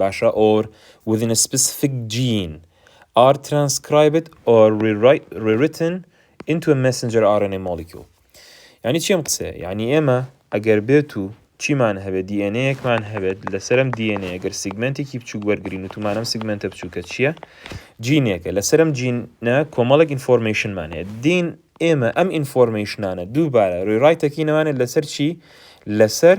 باشە ئۆر وذین سپسفیک جین ئار ترانسکرایبد ئۆر ریریتن ئینتو ئە مێسنجەر ئار ئێن ئەی مۆلیکیول یانی چی ئەم قسەیە یانی ئێمە ئەگەر بێت و چیمان هەبێت دی ئێن ئێیەکمان هەبێت لەسەر ئەم دی ئێن ئێیە گەر سیگمێنتێکی بچووک وەرگرین وتمان ئەم سیگمێنتە بچووکە چییە جینێکە لەسەر ئەم جینە کۆمەڵێک ئینفۆرمەیشنمان هەیە دین ئێمە ئەم ئینفۆرمەیشنانە دووبارە ڕێڕایتەکینەوانێت لەسەر چی لەسەر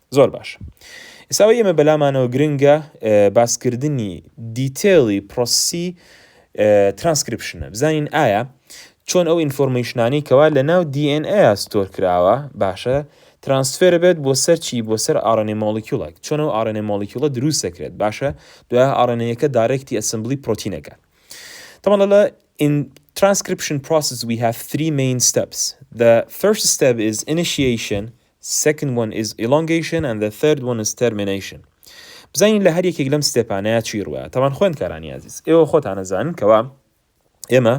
زۆر باش ئیستا ئەوەی ئێمە بەلامانەوە گرنگە باسکردنی دیتێڵی پرۆسی ترانسکرپشنە بزانین ئایا چۆن ئەو ئینفۆرمەیشنانی کەوا لە ناو DNA ستۆر کراوە باشە ترانسفێر بێت بۆ سەرچی بۆ سەر ئاڕێنێ مۆلیکیولێک چۆن ئەو ئاڕێنێ مۆلیکیولە دروست دەکرێت باشە دوای ئاڕێنەیەکە دارێکتی ئەسمبلی پرۆتینەکە طبعا لە in transcription process we have three main steps the first step is initiation second one is elongation and the third one is termination بزانین لە هەر یەکێک لەم ستێپانەیە چی ڕووە تاوان خوێندکارانی ئازیز ئێوە خۆتان ئەزانن کەوا ئێمە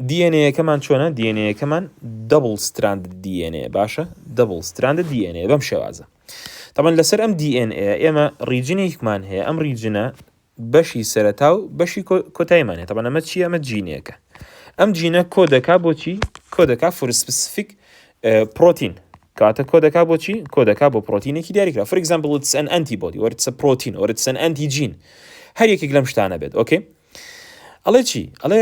دیێنەیەکەمان چۆنە دیێنەیەکەمان دەبڵ ستراند دیێنێ باشە دەبڵ ستراند دیێنێ بەم شێوازە تەمەن لەسەر ئەم دیێن ئێمە ڕیجنێکمان هەیە ئەم ڕیجنە بەشی سەرەتا و بەشی کۆتایمان هەیە تەبەن ئەمە چی ئەمە جینێکە ئەم جینە کۆ دەکا بۆچی کۆ دەکا فورسپسفیک پرۆتین کاتە کۆ دەکا بۆچی کۆ دەکا بۆ پرۆتینێکی دیاریکرا فر ئەگزامپل وتس ئەن ئەنتی بۆدی وەرتسە پرۆتین وەرتسەن ئەنتی جین هەر یەکێک لەم شتانە بێت ئۆکەی ئەڵێ چی ئەڵێ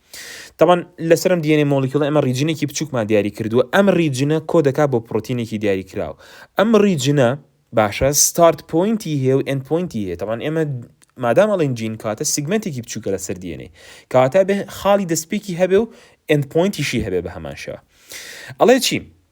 تەبان لەسەر ئەم DNA مۆلیکیوڵە ئێمە ڕیجنێکی بچووکمان دیاری کردووە ئەم ڕیجنە کۆ دەکات بۆ پرۆتینێکی دیاری کراوە ئەم ڕیجنە باشە ستارت پوینتی هەیە و ئەند پوینتی هەیە تەبان ئێمە مادام ئەڵین جین کاتە سیگمنتێکی بچووکە لە سەر DNA کەواتە بێ خاڵی دەستپێکی هەبێ و ئەند پوینتیشی هەبێ بە هەمان شێوە ئەڵێ چی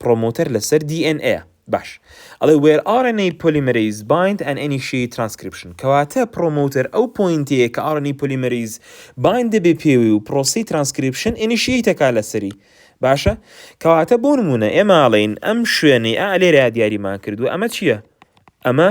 پڕۆمۆتەر لەسەر دی ئێن ئەیە. باش. ئەڵێ وێر ئاڕ ئێن ئەی پۆلیمەرەیز بایند ئەن ئێنیشیەیت ترانسکریپشن کەواتە پڕۆمۆتەر ئەو پۆینتەیە کە ئاڕ ئێن ئەی پۆلیمەرەیز بایند دەبێ پێوەی و پڕۆسەی ترانسکریپشن ئێنیشیەیت ئەکا لەسەری. باشە. کەواتە بۆ نموونە ئێمە ئەڵێین ئەم شوێنەی ئا لێرەیا دیاریمان کردووە ئەمە چییە؟ ئەمە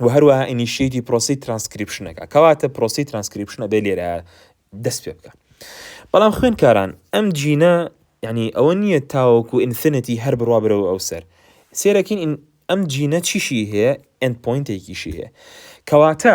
و هەروەها ئینیشیتی پرۆسی ترانسکریپشنەکە کەواتە پرۆسی ترانسکریپشنە بێ لێرە دەست پێ بکە بەڵام خوێنکاران ئەم جینە یعنی ئەوە نییە تاوەکو ئینفینەتی هەر بڕوا برەوە ئەو سەر سێرەکین ئەم جینە چیشی هەیە ئەند پوینتێکیشی هەیە کەواتە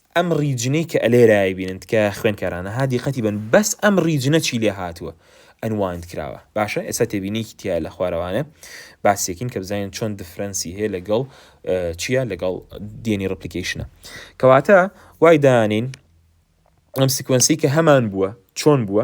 ئەم ڕیجنەی کە ئەلێرە ئەیبینن تکایە خوێنکارانە ها دیقەتی بەن بەس ئەم ڕیجنە چی لێ هاتووە ئەنواند کراوە باشە ئێستا تێبینێکی تیا لە خوارەوانە باسیەکین کە بزانین چۆن دفرەنسی هەیە لەگەڵ چییە لەگەڵ دێنی ڕپلیکیشنە کەواتە وای دانین ئەم سکوێنسی کە هەمان بووە چۆن بووە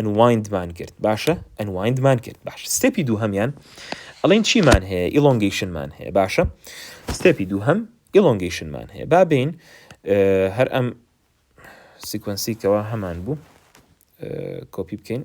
Unwind مان کرد باشە Unwind مان کرد باشە ستێپی دووهەمیان ئەڵێن چیمان هەیە Elongation مان هەیە باشە ستێپی دووهەم Elongation مان هەیە با بین هەر ئەم سیکوەنسی کەوا هەمان بوو کۆپی بکەین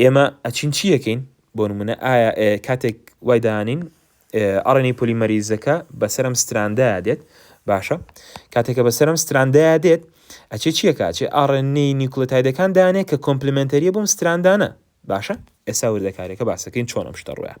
ئێمە ئەچین چی ئەکەین؟ بۆ نموونە ئایا کاتێک وای دانین ئەڕێنی پۆلیمەریزەکە بەسەر ئەم ستراندایە دێت باشە کاتێکە بەسەر ئەم ستراندایە دێت ئەچێ چیەکە ئەچێ ئاڕێنی نیوکلتایدەکان دانێ کە کۆمپلیمنتەریە بۆم ستراندانە باشە ئێسا وردەکارێکە باسەکەین چۆن ئەم شتە ڕویان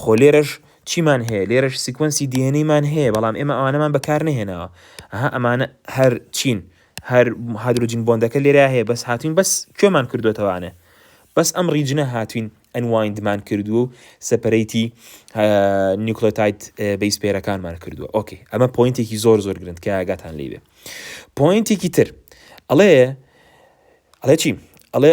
خۆ لێرەش چیمان هەیە لێرەش سیکوەنسی دی ئێن ئەی مان هەیە بەڵام ئێمە ئەوانەمان بەکار نەهێناوە ئەها ئەمانە هەر چین هەر هادرۆجین بۆندەکە لێرە هەیە بەس هاتوین بەس کوێمان کردوتەوانە بەس ئەم ڕیجنە هاتوین ئەنوایندمان کردووە و سەپەرەیتی نیوکلۆتایت بیس پێرەکانمان کردووە ئۆکەی ئەمە پوینتێکی زۆر زۆر گرنت کە ئاگاتان لێ بێ پوینتێکی تر ئەڵێ ئەڵێ چی ئەڵێ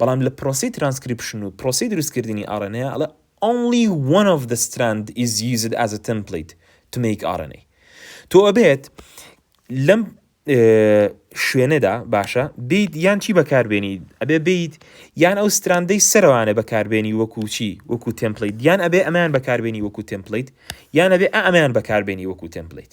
بەڵام لە پرۆسەی ترانسکریپشن و پرۆسەی دروستکردنی ئاڕێنەیا ئەڵێ Only one of the strand is used as a template to make RNA تۆ ئەبێت لەم شوێنەدا باشە بیت یان چی بەکاربێنی ئەبێ بیت یان ئەو ستراندەی سەروانە بەکاربێنی وەکو چی وەکو تمپلیت یان ئەبێ ئەمان بەکاربێنی وەکو تمپلیت یان ئەبێ ئەمان بەکاربێنی وەکو تمپلیت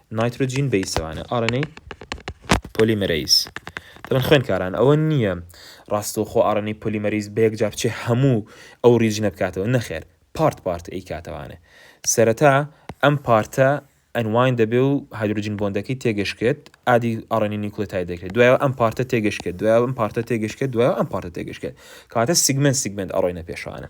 نایترۆجین بەیسەوانە، RNA پۆلیمەرەیز، دەڵێن خوێندکاران ئەوە نییە ڕاستەوخۆ RNA پۆلیمەرەیز بە یەکجار بچێ هەموو ئەو ڕیجنە بکاتەوە، نەخێر پارت پارت ئەیکاتەوانێ، سەرەتا ئەم پارتە ئەنواین دەبێ و هایدرۆجین بۆندەکەی تێگەشکێت ئادی RNA نیوکلێتاید دەکرێت، دوایەوە ئەم پارتە تێگەشکێت، دوایەوە ئەم پارتە تێگەشکێت، دوایەوە ئەم پارتە تێگەشکێت کەواتە سیگمێنت سیگمێنت ئەڕۆینە پێشەوانە.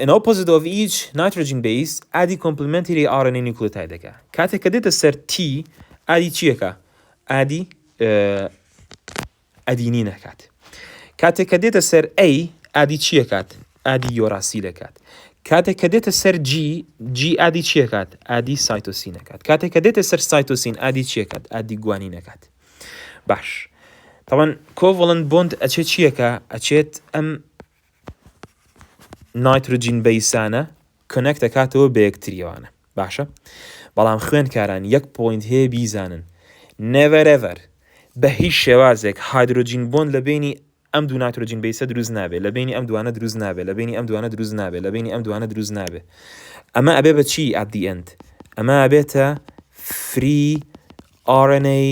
ئن ئۆپۆزیت ئۆف ئیچ نایترۆجین بەیس ئادی کۆمپلمێنتری ئاڕ ئێن ئەی نیوکلۆتایدەکە کاتێک کە دێتە سەر تی ئادی چیەکە ئادی ئەدینی نەکات کاتێک کە دێتە سەر ئەی ئادی چیەکات ئادی یۆراسی دەکات کاتێک کە دێتە سەر جی جی ئادی چیەکات ئادی سایتۆسی نەکات کاتێک کە دێتە سەر سایتۆسین ئادی چیەکات ئادی گوانی نەکات باش تاوان کۆڤڵند بۆند ئەچێت چیەکە ئەچێت ئەم نایترۆجین بەیسانە کۆنێکت دەکاتەوە بە یەکتریەوانە باشە بەڵام خوێندکاران یەک پۆینت هەیە بیزانن نێڤەرێڤەر بە هیچ شێوازێک هایدرۆجین بۆن لە بینی ئەم دوو ناترۆجین بیسە دروست نابێت لە بینی ئەم دوانە دروست نابێت لە بینی ئەم دوانە دروست نابێت لە بینی ئەم دوانە دروست نابێت ئەمە ئەبێ بە چی ئەدی ئەند ئەمە ئەبێتە فری RNA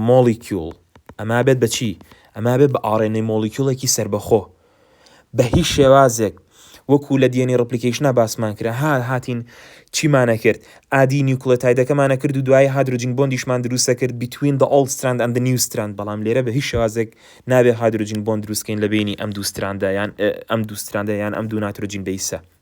مۆڵیکیوڵ، ئەما بێت بە چی؟ ئەما بێت بە ئاڕێنەی مۆڵیکیوڵێکی سەربەخۆ. بە هیچ شێوازێک، وەکوو لە DNA ڕپلیکەیشنا باسمان کرا، ها هاتین چیمانە کرد؟ ئادی نیوکلێتایدەکەمانە کرد و دوایی هادرۆجین بۆندیشمان درووستە کرد between the old strand and the new strand بەڵام لێرە بە هیچ شێوازێک نابێ هادرۆجین بۆند درووست کەین لە بەینی ئەم دوو ستراندە یان ئەم دوو ستراندە یان ئەم دوو ناترۆجین بەیسە.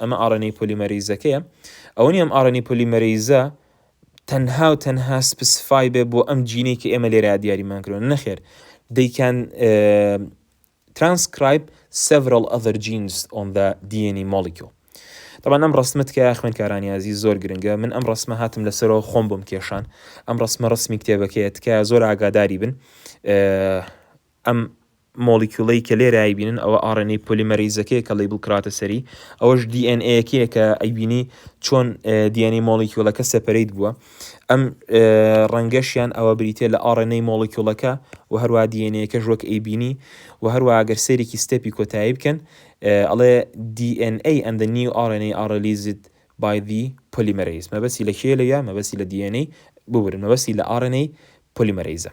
ئەمە ئاڕێنەی پۆلیمەرەیزەکەیە، ئەوە نییە ئەم ئاڕێنەی پۆلیمەرەیزە تەنها و تەنها سپسفای بێ بۆ ئەم جینەی کە ئێمە لێرەیا دیاریمان کردوە، نەخێر they can transcribe several other genes on the DNA molecule. طبعا ئەم ڕسمە تکایە خوێندکارانی ئازی زۆر گرنگە من ئەم ڕسمە هاتم لەسەرەوە خۆم بۆم کێشان ئەم ڕسمە ڕسمی کتێبەکەیە تکایە زۆر ئاگاداری بن ئەم مۆڵیکیوڵەی کە لێرە ئەیبینن ئەوە ئاڕێنەی پۆلیمەرەیزەکەیە کە لەیبڵ کراوەتە سەری، ئەوەش دی ئێن ئەیەکەیە کە ئەیبینی چۆن دی ئێن ئەی مۆڵیکیوڵەکە سەپەرەیت بووە. ئەم ڕەنگەشیان ئەوە بریتیە لە ئاڕێنەی مۆڵیکیوڵەکە و هەروەها دی ئێن ئەیەکەش وەک ئەیبینی و هەروەها گەر سەیرێکی ستێپی کۆتایی بکەن ئەڵێ دی ئێن ئەی ئەند دە نیو ئاڕێن ئەی ئاڕ ڕیلیزد بای دی پۆلیمەرەیز. مەبەستی لە کێیە لەویا؟ مەبەستی لە دی ئێن ئەی ببورن مەبەستی لە ئاڕێنەی پۆلیمەرەیزە.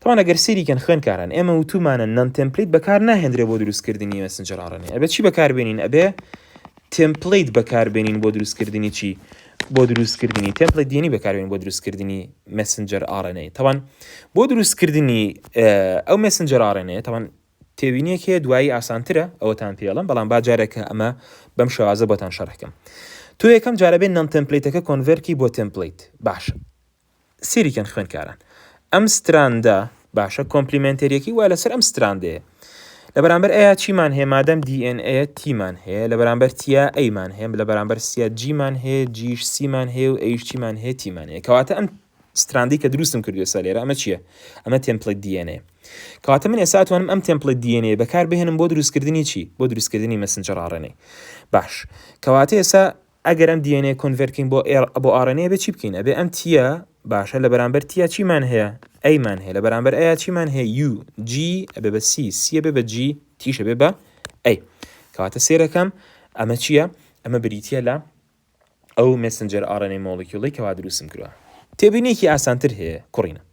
تاوان ئەگەر سێری کەن خوێنکاران ئێمە وتومانە نان تمپلیت بەکار ناهێنرێ بۆ دروستکردنی مەسنجەر ئاڕێنێ ئەبێ چی بەکاربێنین ئەبێ تمپلیت بەکاربێنین بۆ دروستکردنی چی بۆ دروستکردنی تمپلیت دێنی بەکاربێن بۆ دروستکردنی مەسنجەر ئاڕێنەی تاوان بۆ دروستکردنی ئەو مەسنجەر ئاڕێنەیە تاوان تێوینێک هەیە دوایی ئاسانترە ئەوەتان پێڵم بەڵام باجارێکە ئەمە بەم شێوازە بۆتان شەرحکەم تو یەکەم جارەبێن نان تمپلیتەکە کۆنڤەرکی بۆ تمپلیت باشە سەیری کەن خوێندکاران ئەم ستراندە باشە کۆمپلیمێنتەریەکەی وا لەسەر ئەم ستراندەیە لە بەرامبەر ئەیا چیمان هەیە مادەم DNA تیمان هەیە لە بەرامبەر تیا ئەیمان هەیە لە بەرامبەر سیا جیمان هەیە جیش سیمان هەیە و ئەیش چیمان هەیە تیمان هەیە کەواتە ئەم ستراندی کە دروستم کردو سا لێرە ئەمە چییە ئەمە تمپلت DNA کەواتە من ئێستا توانم ئەم تمپلت DNA بەکار بهێنم بۆ دروستکردنی چی بۆ دروستکردنی مەسنجە ڕاڕێنەی باش کەواتە ئێستا ئەگەر ئەم دیێنەیە کۆنڤێرت کەین بۆ ئێڕ بۆ ئاڕێنەی ئەبێ چی بکەین ئەبێ ئەم تییە باشە لە بەرامبەر تیا چیمان هەیە ئەیمان هەیە لە بەرامبەر ئەیا چیمان هەیە یو جی ئەبێ بە سی سیە بێ بە جی تیشە بێ بە ئەی کەواتە سێرەکەم ئەمە چییە ئەمە بریتە لە ئەو مسنجەر ئاڕێنەی مۆڵیکیوڵی کەوا دروستم کردوە تێبینێکی ئاسانتر هەیە کوڕینە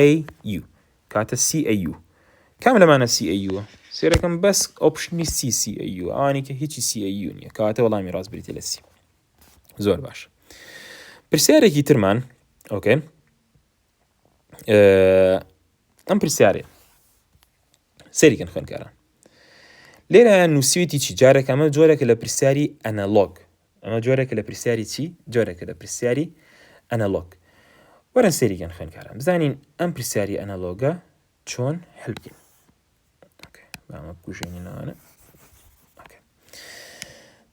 AU کاتە CAU کام لەمانە CAU ە؟ سێرەکەم بەس ئۆپشنی سی CAU ئەوانی کە هیچی CAU نییە کەواتە وەڵامی ڕاست بریتە لە سی زۆر باش پرسیارێکی ترمان ئۆکەی ئەم پرسیارێ سەریکەن خوێنکاران لێرە نووسیویتی چی جارێک ئەمە جۆرێکە لە پرسیاری ئەنەلۆگ ئەمە جۆرێکە لە پرسیاری چی؟ جۆرێکە لە پرسیاری ئەنەلۆگ. وەرن سێری گەن خوێنکاران بزانین ئەم پرسیاری ئەنەلۆگە چۆن هەلبگین. بامە بکوژێنی ناوانە.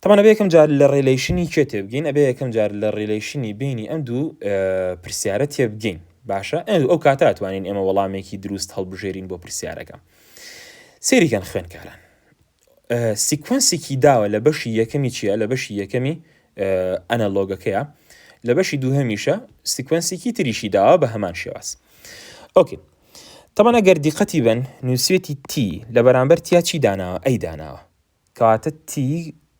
تەمانە بەیەکەم جار لە ڕێلیشنی کێ تێبگەین ئەبێ یەکەم جار لە ڕێلیشنی بینی ئەم دوو پرسیارە تێبگەین باشە ئەو کاتا توانین ئێمە وەڵامێکی دروست هەڵبژێرین بۆ پرسیارەکە سێریکەن خوێنکاران سیکوەنسێکی داوە لە بەشی یەکەمی چییە لە بەشی یەکەمی ئەنەلۆگەکەیە لە بەشی دووهەمیشە سیکوەنسێکی تریشی داوە بە هەمان شێواز ئۆکی تەمەە گەر دیقەتی بن نووسێتی تی لە بەرامبەر تیا چی داناوە ئەی داناوە کەواتە تی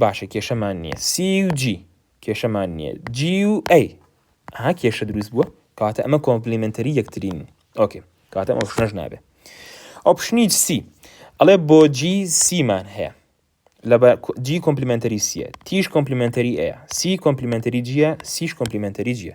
باشە کێشەمان نیە سی و جی کێشەمان نیە جی و ئەی ئەها کێشە دروست بووە کاتە ئەمە کۆمپلیمنتەری یەکترین ئۆکێ کاتە ئەو شنەش نابێ ئۆپشنی سی ئەڵێ بۆ جی سیمان هەیە لە جی کۆمپلیمنتەری سیە تیش کۆمپلیمنتەری ئەیە سی کۆمپلیمنتەری جیە سیش کۆمپلیمنتەری جیە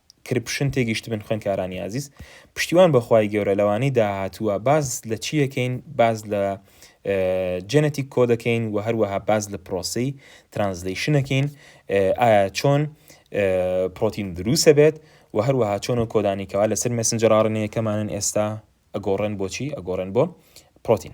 کرپشن تێگیشتبن خوێندکارانی ئازیز پشتیوان بەخوای گەورە لەوانەی داهاتووە باز لە چیەکەین باز لە جەنەتی کۆ دەکەین و هەروەها باز لە پرۆسی ترانزلیشنەکەین ئایا چۆن پرۆتین دروسە بێت و هەروەها چۆن و کۆدانی کەوا لەسەر مەسنجەڕاڕنەیەکەمانن ئێستا ئەگۆڕێن بۆچی ئەگۆڕێن بۆ پرۆتین